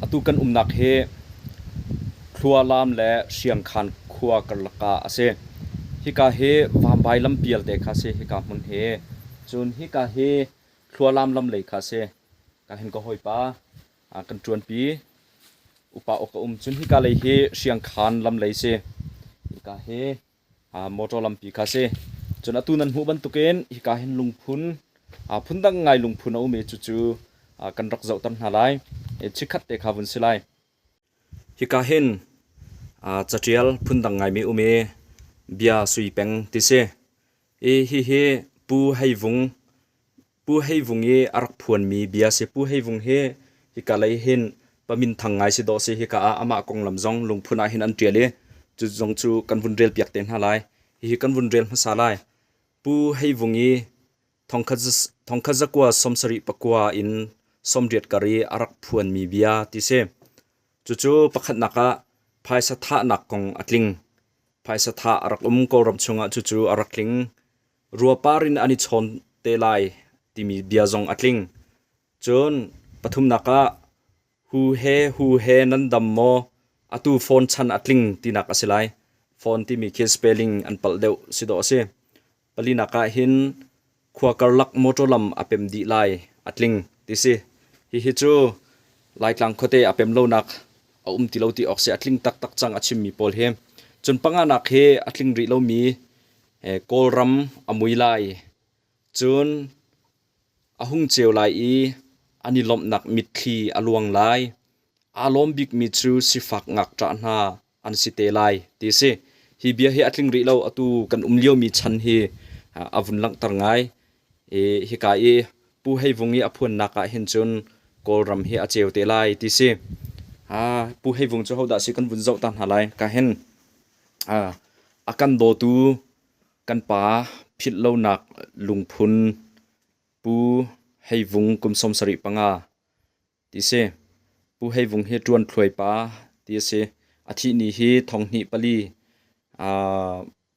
Atu kan umnak hi Thlualam le Hriangkhan khua karlak ah a si. Hika hi Vambai lam pialte kha a si. Hika hmun hi cun hika hi Thlualam lam lei kha a si. Ka hin ka hawipa kan ṭuanpi upa uk a um. Cun hika lei hi Hriangkhan lam lei si. Hika hi motor lampi kha a si. Cun atu nan hmuh bantukin hika hin lungphun phundang ngai lungphun a um i cucu kan rak zohter hna lai. Chikkhat te kha vun si lai. Hika hin catial phundang ngaimi um i bia sui peng ti si. I hihi Pu Hei Vung Pu Hei Vung i a rak phuanmi bia si. Pu Hei Vung hi hika lei hin paminthang ngai si dawh si. Hika ah amah konglam zong lungphun ah hin an ṭial i cu zong cu kan vun relpiak te hna lai. Hihi kan vun rel hmasa lai. Pu Hei Vung i thongkhat zakua sawmsarih pakua in sawmriat kar i a rak phuanmi bia ti si. Cucu pakhatnak ah phaisa thahnak kong a tling. Phaisa thah a rak um Kawlram chungah cucu a rak tling. ruapar in an i chawn te lai timi bia zong a tling. Cun pathumnak ah hu he hu he nan dam maw? Atu phone chan a tling tinak a si lai. Phone timi khi spelling an palh deuh si dawh a si. Palinak ah hin khua karlak motor lam a pem dih lai a tling ti si. Hihi cu Laitlang khuate a pem lonak a um ti lo ti awk si a tling taktak cang a chimmi pawl hi. Cun panganak hi a tling rih lomi Kawlram a mui lai. Cun a hung ceu lai i an i lawmhnak mitthli a luang lai. Aa lawm bikmi cu sifak ngakṭah hna an si te lai, ti a si. Hi bia hi a tling rih lo. Atu kan um liomi chan hi a vun langhter ngai. Hika i Pu Hei Vung i a phuannak ah hin cun Kawlram hi a ceu te lai, ti si. Pu Hei Vung cu hodah a si kan vun zoh ta hna lai ka hin. A kan dawtu kan pa philh lonak lungphun Pu Hei Vung kum sawm sarih panga ti si. Pu Hei Vung hi ṭuan thluai pa ti a si. A thih ni hi thong hnih pali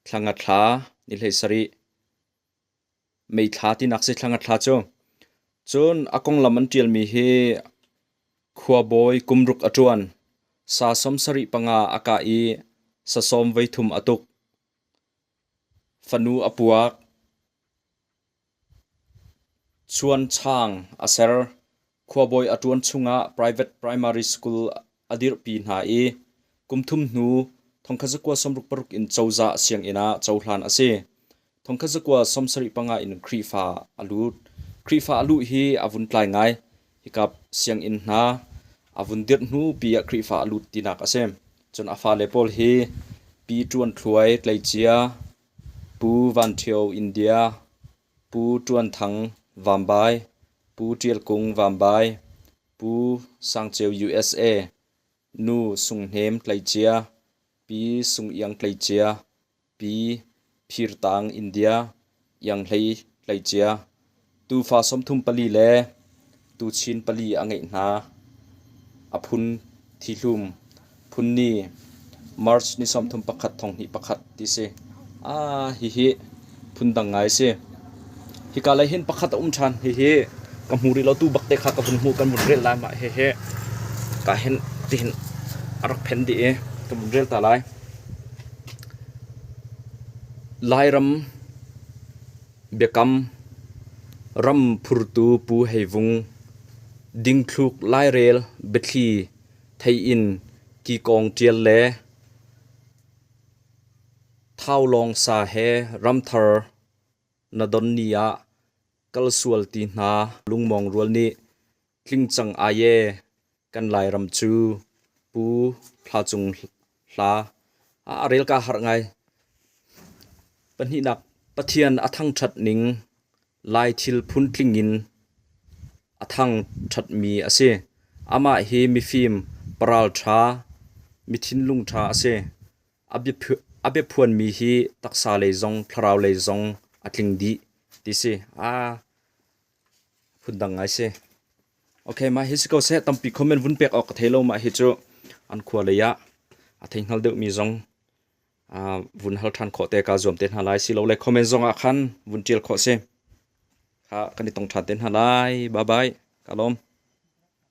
thla nga thla ni hlei sarih Meithla tinak si thlang a thla cu. Cun a konglam an ṭialmi hi khuabawi kum ruk a ṭuan. Sa sawm sarih panga a kah i sa sawm voi thum a tuk. Fanu a puak. Chuan Chang a ser. Khuabawi a ṭuan chungah private primary school a dirhpi hna i kumthum hnu thongkhat zakua sawmruk paruk in cozah sianginn ah cohlan a si. Thongkhat zakua sawmsarih panga in Khrihfa a lut. Khrihfa a luh hi a vun tlai ngai. Hika sianginn hna a vun dirh hnu pi ah Khrihfa a lut tinak a si. Cun a fale pawl hi Pi Ṭuan Thluai, Tleicia, Pu Van Ṭhio, India, Pu Ṭuan Thang Vambai, Pu Ṭial Kung Vambai, Pu Sang Ceu usa, Nu Sung Hnem Tleicia, Pi Sung Iang Tleicia, Pi Phir Tang India, Iang Hlei Tleicia, Tuufa sawmthum pali le Tuchin pali a ngeih hna. A phun thihlum, phun ni, March ni sawmthum pakhat thonghnih pakhat ti si. Ah, hihi phundang ngai si. Hika lei hin pakhat a um ṭhan. Hihi ka hmu rih lo tu bak te kha ka vun hmu kan vun rel lai mah hihi. Ka hen tihin a rak phen dih i ka vun rel ta lai. Lairam Biakam ram phurtu pu hei vung dingthluk lairel biathli thei in kikawng ṭial le thawlawng sa he ramthar na don ni ah kal sual ti hna lungmawng rual nih Tling cang ai ee, kan Lairam cu Pu Hla Cung Hla a rel ka harh ngai. Pahnihnak Pathian a thangṭhat ning Lai thil phun tling in a thangṭhat mi a si. Amah hi mifim, paralṭha, mi thinlung ṭha a si. A biaphuan mi hi taksa lei zong thlarau lei zong a tling dih ti si. Aa phundang ngai si. Okay, mah hi si ko seh tampi comment vun pek awk ka thei lo mah hi cu an khua lei ah a thei hngal deuh mi zong vun hal than khawh te ka zuam te hna lai si lo le comment zong ah khan vun tial khawh si kha kan i tong than te hna lai bye bye kalom